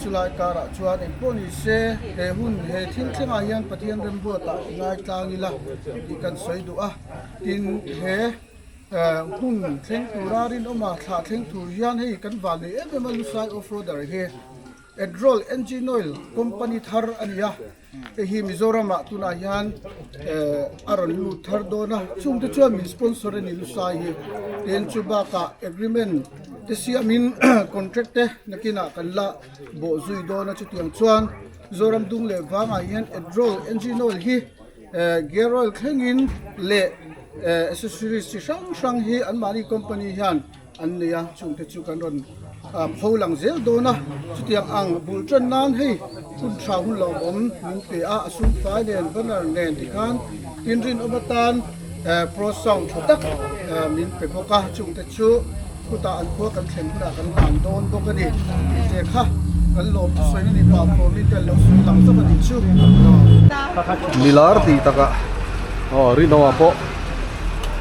Chulai karah chuan engpawh ni se he hun he thil thlengah hian Pathian rembuatah i ngaitlang ila tih kan sawi duh a, tin he hun thleng tura rinawma thlah thleng tur hian hei kan van nei em em a Lusai Offroader hi Adroll Engine Oil company thar a ni a. Hei hi Mizoramah tunah hian a rawn lut thar dawn a, chungte chuan min sponsor a nih lusai hi tin chu bakah agreement te siamin contract te nakinah kan la bawh zui dawn a, chutiang chuan Zoram Dung leh vangah hian Edrol Engine Oil hi Gear Oil thlengin leh accessories chi hrang hrang hi anmahni company hian an nei a, chungte chu kan rawn pho lang zel dawn a, chutiang ang bul tan nan hei hun tha hun lo awm min pe a, a sumfai nen banner nen te khan tin rin awm atan pro sound tha tak min pe bawk a, chungte chu khutah an khua kan thlen hunah kan dan dawn bawk a ni, tih te kha kan lawm a sawi a ni pah pawh min kan lo sawi lang zawk a nih chu. Milar tih takah aw rinawmah pawh.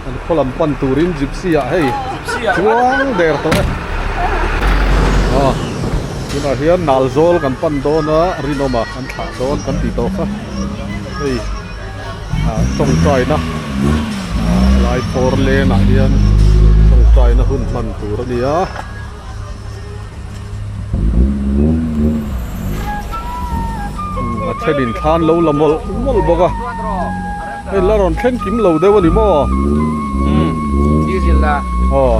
an khaw lam pan turin gypsy ah hei chuang der tawh e ah tunah hian nal zawl kan pan dawn a rinawm ah kan thlah dawn kan tih tawh kha hei ah tawngtai na ah laikhawr len ah hian tawngtai na hun hman tur a ni a. a then in thla an lo la mawlh mawlh bawk a hei la rawn thleng kim lo deuh a ni maw aw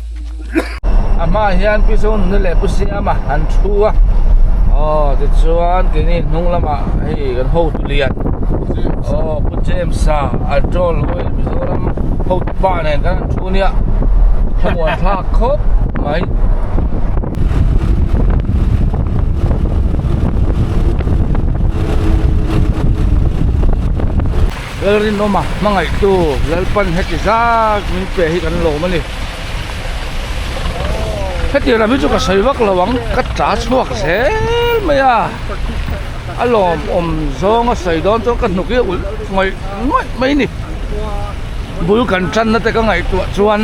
A hmaah hian pi chu nunu leh pu siama an thu a aw tichuan keini hnung lama hei kan hotu lian aw pu James a a chawl lawm em Mizoram hotu pa nen kan han thu ania hmangaihah a thlak khawp mai. Lalrinawma hmangaihtu Lalpan heti zat min pe hi kan lawm a ni. Heti ram hi chu ka sawi vak lo ang, ka ta chhuak zel mai a, a lawm awm zawnga sawi dawn chuan ka hnuk hi a ulh ngawih ngawih mai a ni. Bul kan tanna te ka ngaihtuah chuan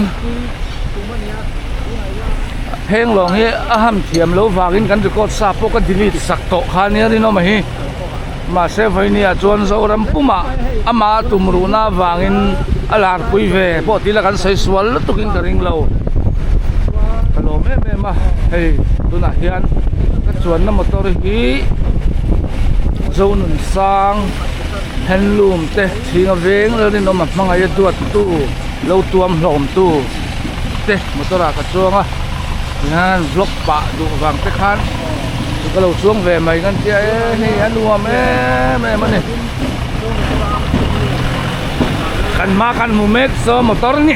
Phenglawng hi a ham thiam lo vangin kan record sa pawh ka delete sak tawh khan nia rinawma hi. mahse vawinia chuan zoram pumah ama tumruhna avangin a larpui ve pawh tila kan sawi sual lutukin ka ringlo ka lawm em em a hei tunah hian ka chuanna motor hi zonun sang handloom te thing a veng ralrin awm a hmangaih a duattu lo tuam hlawhawm tu. te motor ah ka chuang a ti hian vlog pah duh vang te khan chu ka lo chuang ve mai kan tia e hei a nuam em em a ni kan hma khan hmu mek so motor ni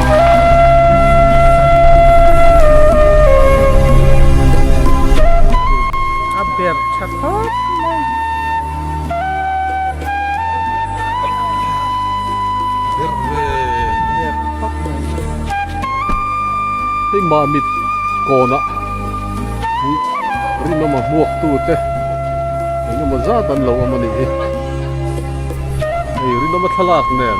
a ber tha khawp mai mah mit kawna rinawm a hmuak tu te engemaw zat an lo awm a ni e hei rinawm a thlalak nen.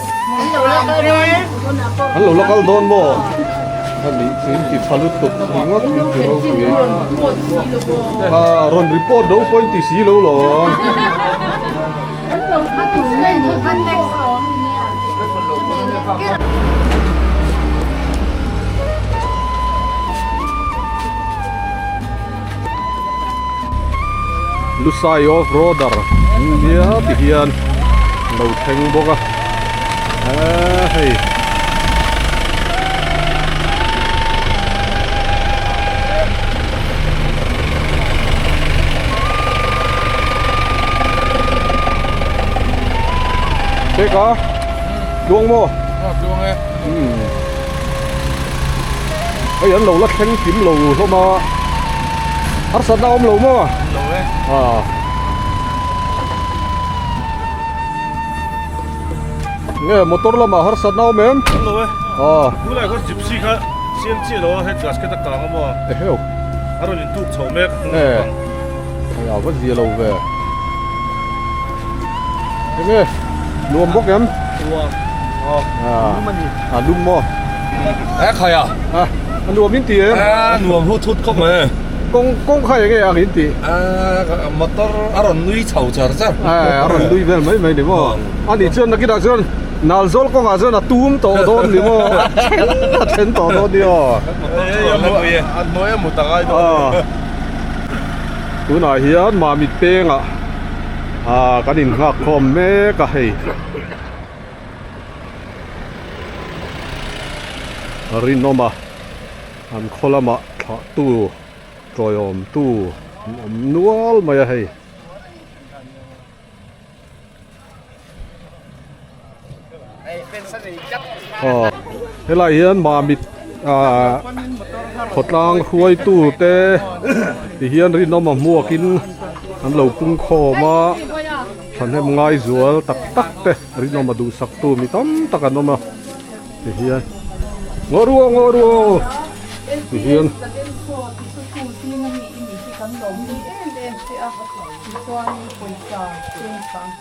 An lo la kal dawn maw? An nih chu in ti pha lut tawp thin ngawt chu in ti ro chu ni. Ha, rawn report ro pawh in ti si lo lawng. Lusai off roader nia ti hian lo thleng bawk a ah hei Check a tluang maw? Tluang e. Hei an lo la thleng kim lo hlawm a, harsatna a awm lo maw? Awm lo e. Aa. Nge motor lamah harsatna awm em? Awm lo e. Aa. Tunlai khaw gypsy kha siam chiah lo a, head gasket a kang a maw? Eheu. A rawn intuk chhoh mek. Nge. Hei a va zia lo ve. Enge? Nuam bawk em? Nuam. Aw. Nuam a ni. A dum maw? He khai a? A, a nuam in tih em? A nuam hut hut khawp mai e. Kawng, kawng khai enge ang in tih? A, motor a rawn nui chho char char. A, a rawn nui vel mai mai ni maw? A nih chuan nakinah chuan nal zawl kawngah chuan a tum tawh dawn ni maw? A then, a then tawh dawn ni aw. A hnuaia mut ang ai dawn. Tunah hian Mamit pengah kan in nghak khawm mek a hei rinawm a an khaw lamah thlah tu tawihawm tu an awm nual mai a hei. Aw helai hian mamit ah khawtlang hruai tu te ti hian rinawm a hmuak in an lo pung khawm a thahnem ngai zual tak tak te rinawm a duh sak tu mi tam tak an awm a ti hian ngaw ru aw ngaw ru aw ti hian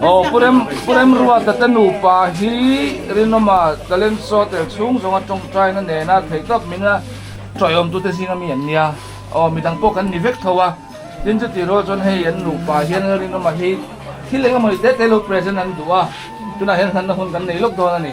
Aw purem purem rua tata nupa hi rinawma talent show tel chhung zawnga tawngtaina nena thei tawp min a tawih awm tute zing ami an nia aw midang pawh kan ni vek tho a tin chuti raw chuan hei an nupa hian rinawma hi thil engemawni te te lo present an duh a tunah hian hlanna hun kan nei lawk dawn a ni.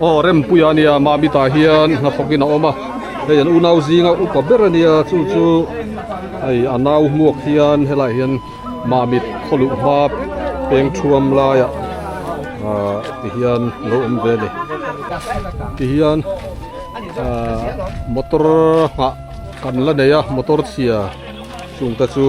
Aw Rempuia a nia, Mami tah hian hnathawkin a awm a, hei an unau zinga upa ber a nia, chu chu hei a nau hmuak hian helai hian Mami khaw luh hma peng thuam laiah ah ti hian lo awm ve a ni. Ti hian ah motor nghah kan la nei a, motor chhia chungte chu.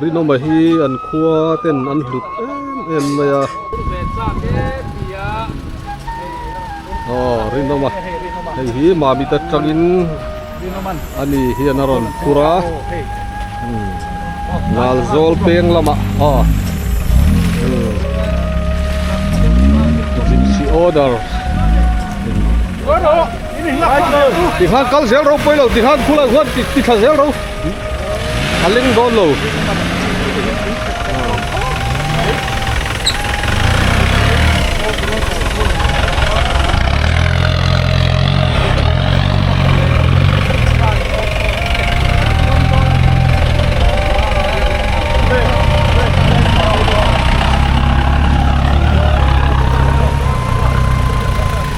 rinawma hi an khua ten an hlut em em mai a aw rinawma hei hi mami te tangin ani hian a rawn phur a Nalzawl peng lamah aw zipsi order. Ti khan kal zel ro pawi lo ti khan khulai huan ti ti thla zel ro a leng dawn lo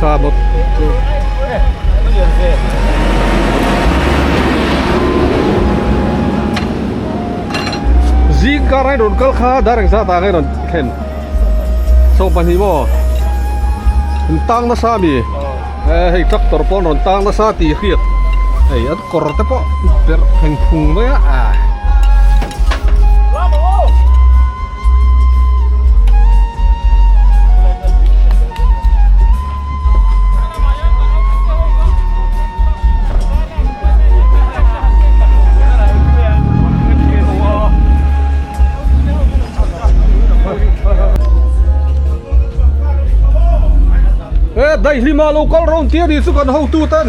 Car bawk chu zing car a rawn kal kha direct zat ah kha i rawn thlen chho pahnih maw in tang nasa a mi e hei tractor pawh an rawn tang nasa tih a hriat hei an kawr te pawh perh thleng phung mai a ah. daihlimah lo kal rawn tir hi chu kan hotu ten.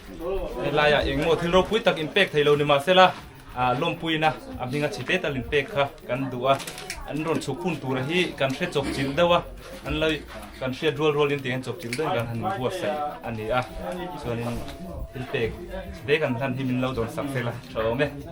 Helaiah engmaw thil ropui tak in pek thei lo ni mah se la, lawmpuina a hming a chhite tal in pek kha kan duh a, an rawn chhuk hun tura hi kan hre chawpchilh deuh a, an lo kan hriat rual rual in tiangin chawpchilh deuhin kan han buatsaih a ni a, chuanin thil pek chhite kan hlan hi min lo dawnsak tel a, tha awm e.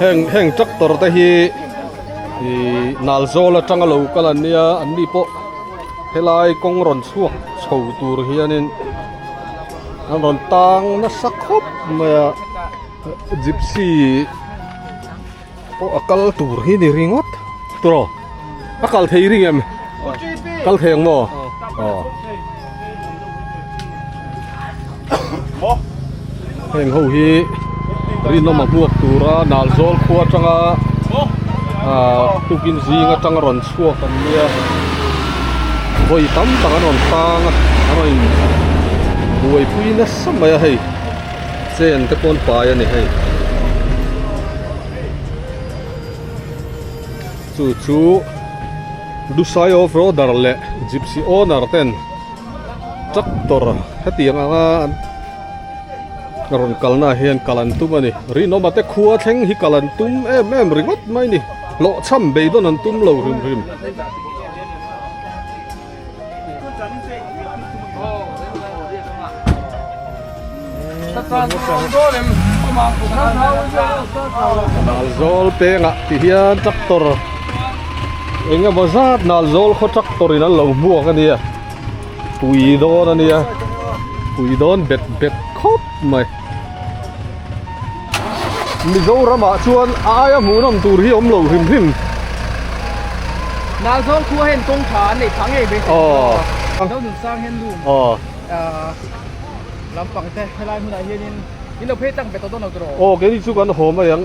heng heng tractor te hi ihh nal zawl atanga lo kal an nia an ni pawh helai kawng rawn chhuak chho tur hianin an rawn tang nasa khawp mai a gypsy -- Aw a kal tur hi ni ringawt tawh a kal thei ring em kal thei ang maw aw heng ho hi rinawm a hmuak tura nal zawl khua atanga tukin zing atanga rawn chhuak an nia vawi tam tak an rawn tang a an rawn in buaipui nasa mai a hei. Chen te pawn pai a ni hei. Chu chu Dusai off roader leh Gypsy owner ten tractor heti ang anga an rawn kalna ah hian kal an tum a ni. Rinawma te khua thleng hi kal an tum em em ringawt mai a ni. Hlawhchham beidawn an tum lo hrim hrim. Nalzawl pengah tih hian tractor eng emaw zat Nalzawl khaw tractor in an lo hmuak a nia pui dawn a nia pui dawn bet bet khawp mai. Mizoram ah chuan a aia hmuhnawm tur hi awm lo hrim hrim. Nal zawng khua hian kawng tha an nei phah ngei mai se a lo nun sang hian lum lampang te helai hmunah hianin in lo phei tak ve tawh dawn lo tur aw. Aw kei chu kan hawm a eng.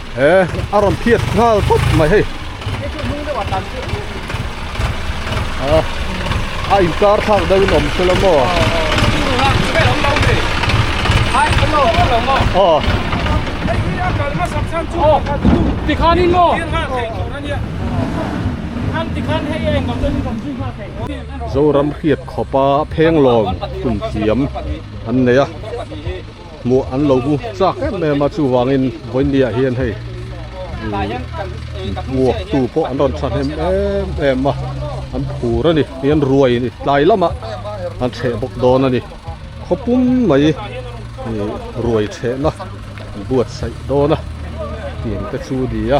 he a rawn phiat nghal tawp mai hei ah a in kar thlak deuh in awm se la maw aw tikhan in maw zoram hriat khawpa phenglawng hun thiam an nei a. Hmuh an lo bu tlak em em a, chuvangin Vawinia hian hei buaktu pawh an rawn thahnem em em a, an phur a ni. Hei an ruai a ni, tlai lamah an chheh bawk dawn a ni. Khaw pum mai ruai chhehna an buatsaih dawn a tih engte chu a ni a.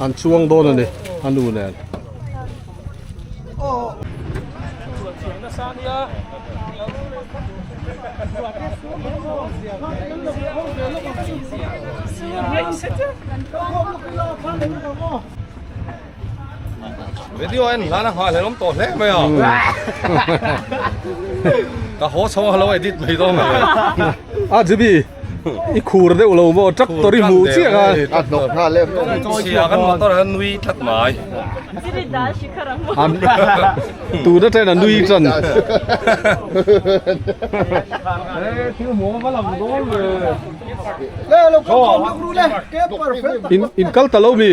An chuang dawn a ni a nu nen. Video anh hlan a nghal helom tawh hle mai a ka haw chho a lo edit mai dawn a a Zibi i khur deuh lo maw tractor i hmuh chiah a a hnawk nghal em siah kan motor ah hian nui tlat mai tuna chen a nui tan thil hmuh ka lang dawn le in kal ta lo mi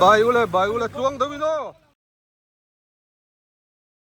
bai ula bai ula chuang deuh ilo.